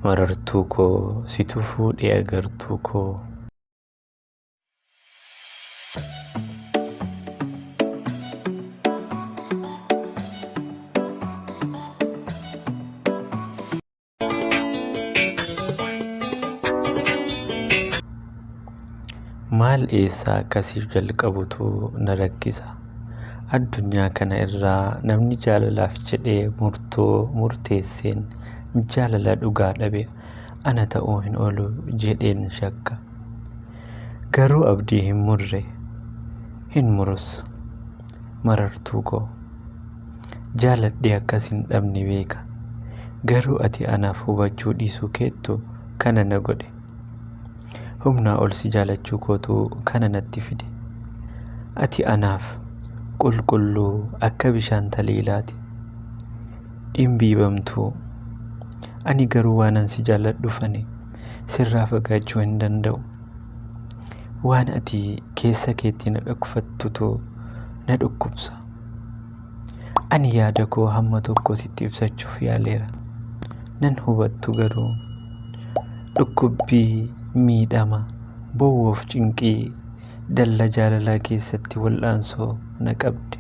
Marartuu koo situ fuudhee agartuu koo. Maal eessaa akkasii jalqabutu na rakkisa. Addunyaa kana irraa namni jaalalaaf jedhee murtoo murteesseen jaalala dhugaa dhabe ana ta'uu hin oolu jedheen shakka. Garuu abdii hin murre, hin murus. Marartuu koo. Jaaladhee akka sin dhabne beeka. Garuu ati anaaf hubachuu dhiisuu keettu kana na godhe. Humnaa ol si jaalachuu kootu kana natti fide. Ati anaaf qulqulluu akka bishaan taliilaati. Dhimbiibamtuu. Ani garuu waanan si jaalladhufani sirraa fagaachuu hin danda'u. Waan ati keessa keetti na dhokfattutu na dhukkubsa. Ani yaada koo hamma tokko sitti ibsachuuf yaaleera. Nan hubattu garuu dhukkubbii, miidhama, bowwoof cinqii dalla jaalalaa keessatti wal'aansoo na qabde.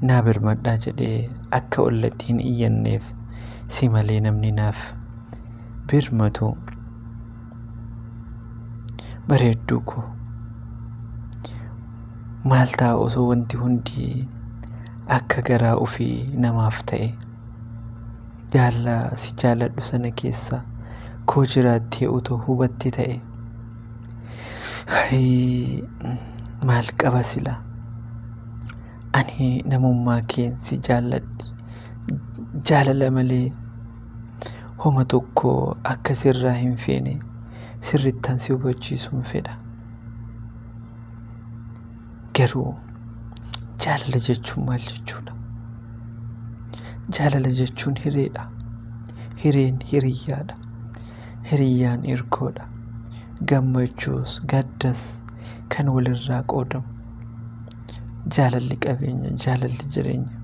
Naa birmadhaa jedhee akka ollatti hin iyyanneef si malee namni naaf birmatu bareedduu koo maal ta'a osoo wanti hundi akka garaa ofii namaaf ta'e jaalla si jaalladhu sana keessa koo jiraattee utuu hubatte ta'e Hayii, maal qaba sila ani namummaa keen si jaalladhe jaalala malee homa tokko akka sirraa hin feene sirrittan si hubachiisuun fedha. Garuu jaalala jechuun maal jechuudha? Jaalala jechuun hireedha. Hireen hiriyyaadha. Hiriyyaan irkoodha. Gammachuus gaddas kan walirraa qoodamu. Jaalalli qabeenya, jaalalli jireenya,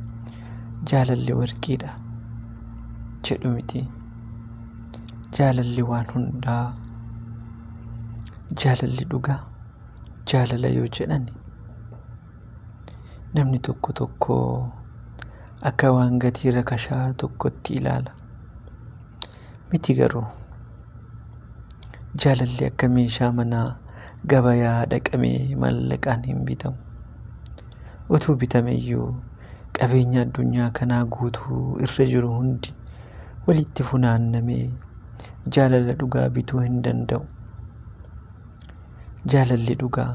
jaalalli warqiidha. jedhu miti. Jaalalli waan hundaa jaalalli dhugaa jaalala yoo jedhan namni tokko tokko akka waan gatii rakashaa tokkotti ilaala. Miti garuu jaalalli akka meeshaa manaa gabayaa dhaqamee mallaqaan hin bitamu. Utuu bitameyyuu qabeenya addunyaa kanaa guutuu irra jiru hundi walitti funaannamee jaalala dhugaa bituu hin danda'u. Jaalalli dhugaa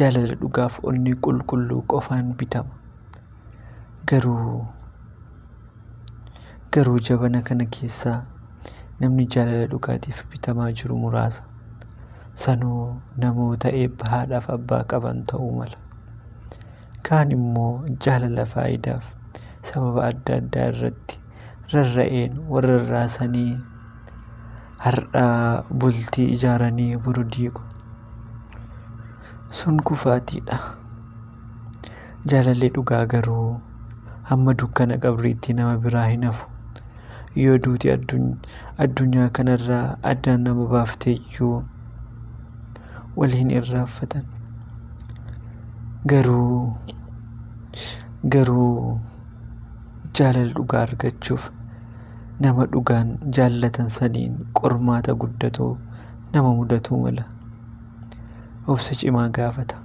jaalala dhugaaf onnee qulqulluu qofaan bitama. Garuu garuu jabana kana keessaa namni jaalala dhugaatiif bitamaa jiru muraasa. Sanuu namoota eebba haadhaaf abbaa qaban ta'uu mala. kaan immoo jaalala faayidaaf sababa adda addaa irratti rarra'een wal rarraasanii har'a bultii ijaaranii boru diigu. Sun kufaatiidha. Jaalalli dhugaa garuu hamma dukkana qabriitti nama biraa hin hafu. yoo duuti addunyaa kanarraa addaan nama baafteyyuu wal hin irraanfatan garuu garuu jaalala dhugaa argachuuf nama dhugaan jaallatan saniin qormaata guddatu nama mudatuu mala obsa cimaa gaafata.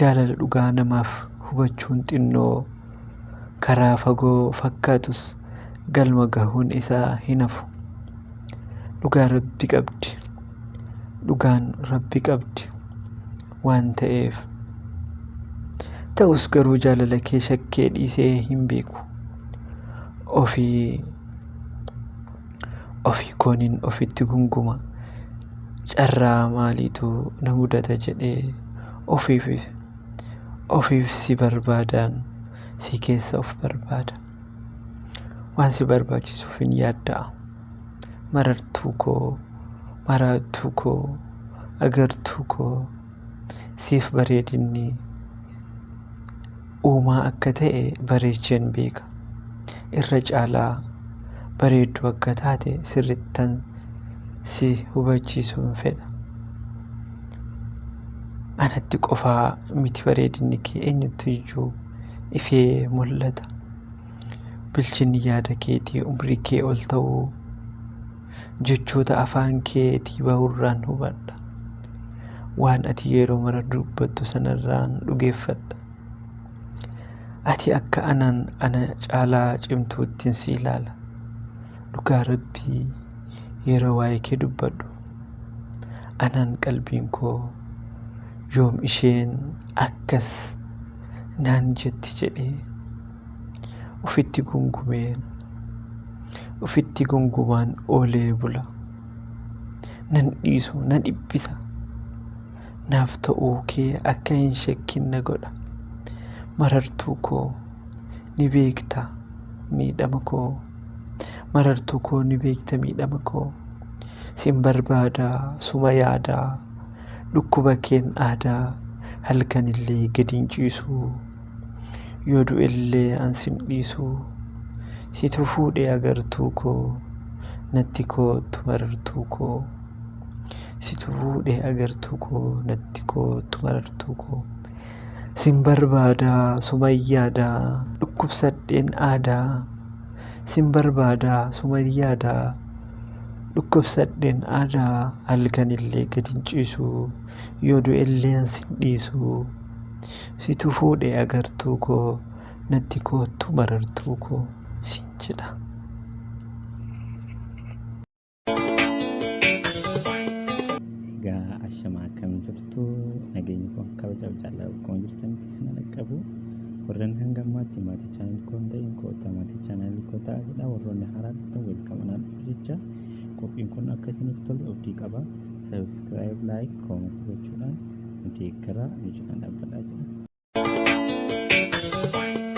Jaalala dhugaa namaaf hubachuun xinnoo karaa fagoo fakkaatus galma gahuun isaa hin hafu. Dhugaa Rabbi qabdi. Dhugaan Rabbi qabdi. Waan ta'eef. Ta'us garuu jaalala kee shakkee dhiisee hin beeku. Ofii ofii koonin ofitti gunguma carraa maaliitu na mudata jedhee ofiif ofiif si barbaadaan si keessa of barbaada waan si barbaachisuuf hin yaadda'a marartuu koo maraattuu koo agartuu koo siif bareedinni uumaa akka ta'e bareecheen beeka. Irra caalaa bareedduu akka taate sirrittan si hubachiisuun fedha. Anatti qofaa miti bareedinni kee eenyutti iyyuu ifee mul'ata. Bilchinni yaada keetii umrii kee ol ta'uu jechoota afaan keetii ba'urraan hubadha. Waan ati yeroo mara dubbattu sanarraan dhugeeffadha. Ati akka anaan ana caalaa cimtuuttiin si ilaala. Dhugaa Rabbii yeroo waa'ee kee dubbadhu. Anaan qalbiin koo yoom isheen akkas naan jetti jedhee Ufitti gungumee ufitti gungumaan oolee bula. Nan dhiisu na dhiphisa. Naaf ta'uu kee akka hin shakkin na godha. Marartuu koo ni beekta miidhama koo. Marartuu koo ni beekta miidhama koo. Sin barbaada suma yaada. Dhukkuba keen aadaa halkanillee gadiin ciisu. Yoo du'ellee an sin dhiisu Situ fuudhee agartuu koo Natti koottu marartuu koo Situ fuudhee agartuu koo Natti koottu marartuu koo Sin barbaadaa sumayyaadaa Dhukkubsadheen aadaa Sin barbaadaa sumayyaadaa Dhukkubsadheen aadaa Halkanillee gad hin ciisu Yoo du'ellee an sin dhiisu Situ fuudhe agartuu koo natti koottu marartuu koo siin jedha. Egaa ashama akkam jirtu nageenyi koo akka bacaaf jaalala akkuma jirtanitti isin dhaqqabu warreen hanga ammaatti maatii chaanal koo hin ta'in koota maatii chaanal koo ta'a jedha warroonni haaraa dhuftan weelkamanaa dhufu jecha qophiin kun akka isinitti tolu abdii qaba sabiskiraayib laayik koomanti gochuudhaan deeggaraa nu cinaa dhaabbataa jira.